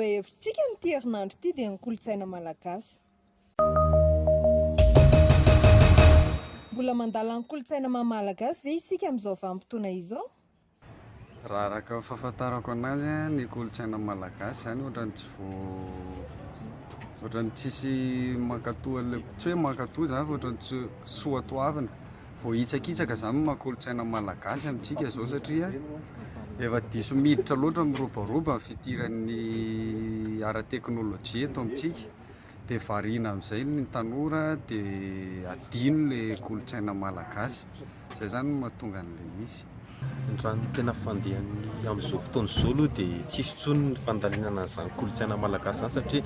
Lohahevitrintsika amin'ity herinandro ity dia ny kolontsaina malagasy. Mbola mandala ny kolontsaina maha-malagasy ve isika amin'izao vanim-potoana izao? Raha araka ny fahafantarako anazy a, ny kolontsaina malagasy zany ohatrany tsy vao, ohatrany tsisy mankatò an'le, tsy hoe mankatò zany fa ohatrany tsy soa toavina, vao hitsakitsaka zany ny maha kolontsaina malagasy amintsika zao satria efa diso miditra loatra, miroboroba ny fidiran'ny ara-teknolojia eto amintsika. Dia variana amin'izay ny tanora dia adino ilay kolontsaina malagasy. Izay izany no mahatonga an'ilay izy. Ny raha ny tena fandehany amin'izao fotoana izao aloha dia tsy hisy intsony ny fandalinana an'izany kolontsaina malagasy izany satria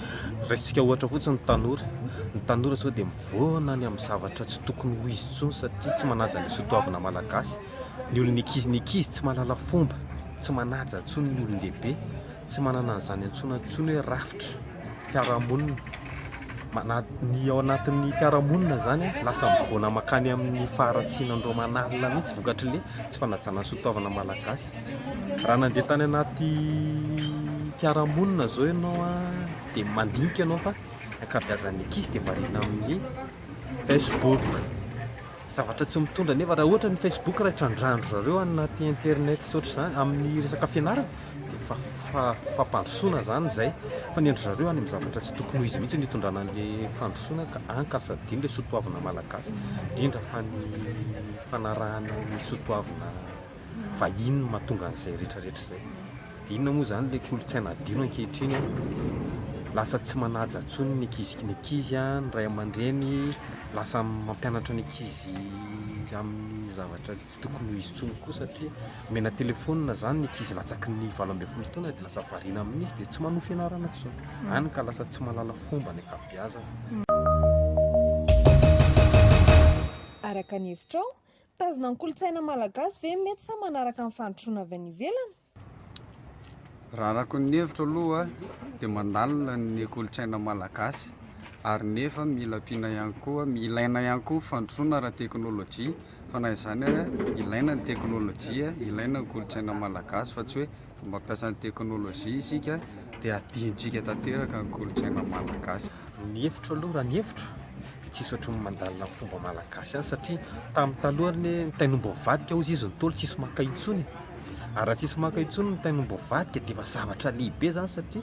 raisintsika ohatra fotsiny ny tanora. Ny tanora sao dia mivoana any amin'ny zavatra tsy tokony ho izy intsony satria tsy manaja ny soatoavina malagasy. Ny olon'ny ankizy, ny ankizy tsy mahalala fomba, tsy manaja intsony ny olon-dehibe. Tsy manana an'izany antsoina intsony hoe rafitra fiarahamonina. Mana- Ny ao anatin'ny fiarahamonina izany an, lasa mivoana mankany amin'ny faharatsiana an'ireo manalina mihitsy vokatr'ilay tsy fanajana ny sotoavina malagasy. Raha nandeha tany anaty fiarahamonina izao ianao an, dia mandinika ianao fa ny ankabeazan'ny ankizy dia variana amin'ny Facebook. Zavatra tsy mitondra nefa raha ohatra ny Facebook raha trandrandry zareo any anaty internet sy ohatr'izany amin'ny resaka fianarana dia efa fampandrosoana izany izay fa ny an-dry zareo any amin'ny zavatra tsy tokony ho izy mihitsy no hitondrana an'ilay fandrosoana ka any ka tsy adino ilay soatoavina malagasy indrindra fa ny fanarahana ny soatoavina fa inona no mahatonga an'izay rehetra rehetra izay? Dia inona moa izany ilay kolontsaina adino ankehitriny an? Lasa tsy manaja intsony ny ankizy ny ankizy an, ny ray aman-dreny lasa mampianatra ny ankizy amin'ny zavatra tsy tokony ho izy intsony koa satria omena telefaonina izany ny ankizy latsaky ny valo ambin'ny folo taona dia lasa variana amin'izy dia tsy manohy fianarana intsony, hany ka lasa tsy mahalala fomba ny ankabeazany. Araka ny hevitrao, Mitazona ny kolontsaina malagasy ve ny mety sa manaraka ny fandrosoana avy any ivelany? Raha araka ny hevitro aloha dia mandalina ny kolontsaina malagasy ary nefa mila ampiana ihany koa, ilaina ihany koa ny fandrosoana ara-teknolojia fa na izany aza ilaina ny teknolojia, ilaina ny kolontsaina malagasy fa tsy hoe. Fomba fiasan'ny teknolojia isika dia adinontsika tanteraka ny kolontsaina malagasy. Ny hevitro aloha raha ny hevitro dia tsisy ohatry ny mandalina ny fomba malagasy azy satria tamin'ny taloha ny hoe mitain'omby mivadika hozy izy nitolo tsisy maka intsony e! ary raha tsisy maka intsony ny mitain'omby mivadika dia efa zavatra lehibe zany satria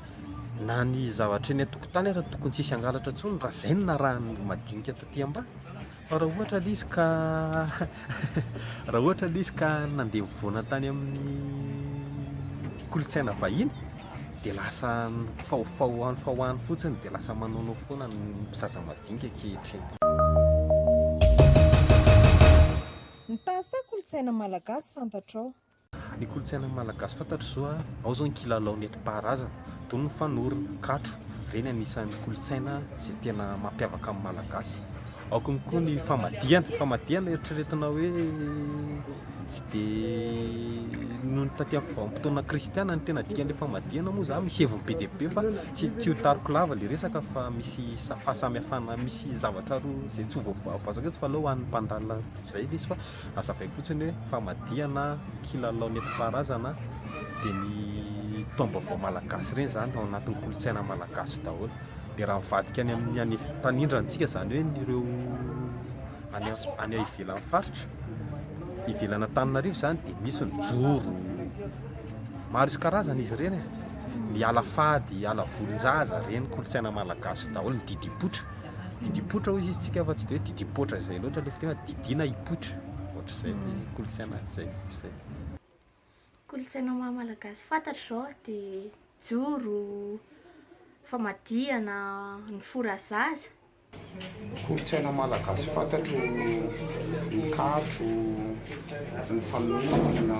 na ny zavatra eny an-tokotany aza tokony tsisy hangalatra intsony raha zay no narahan'ny madinika taty ambany Fa raha ohatra aloha izy ka raha ohatra aloha izy ka nandeha nivoana tany amin'ny kolontsaina vahiny dia lasa faofao any fa ho any fotsiny dia lasa manaonao foana ny zaza madinika ankehitriny. Mitaha saha kolontsaina malagasy fantatrao. Ny kolontsainan'ny Malagasy fantatro izao a, ao izao ny kilalao nentim-paharazana, toy ny fanorona, katro, ireny anisan'ny kolontsaina izay tena mampiavaka ny Malagasy. Ao koa koa ny famadihana, famadihana eritreretina hoe tsy dia noho ny taty amin'ny vanim-potoana kristiana ny tena dikan'ilay famadihana moa izany, misy heviny be dia be fa tsy tsy ho tariko lava ilay resaka fa misy sa- fahasamihafana, misy zavatra roa izay tsy ho voa- voazaka eto fa aleo ho an'ny mpandalina izay ilay izy fa. Azavaiko fotsiny hoe famadihana kilalao nentim-paharazana dia ny taom-baovao malagasy ireny izany ao anatin'ny kolontsaina malagasy daholo. Dia raha mivadika any amin'ny any mpanindrona antsika izany hoe ny ireo any any ivelan'ny faritra, ivelan'ny Antananarivo izany dia misy ny joro, maro isan-karazany izy ireny e, ny ala fady, ala volon-jaza ireny kolontsaina malagasy daholo, ny didipoitra. Didipoitra hoy izy tsika fa tsy de hoe didipoitra izay loatra le fiteny fa didiana hipoitra ohatr'izay ny kolontsaina any zay zay. Kolontsaina maha malagasy fantatro zao de joro, famadihana, ny fora zaza. Kolontsaina malagasy fantatro ny katro, ny fanorona,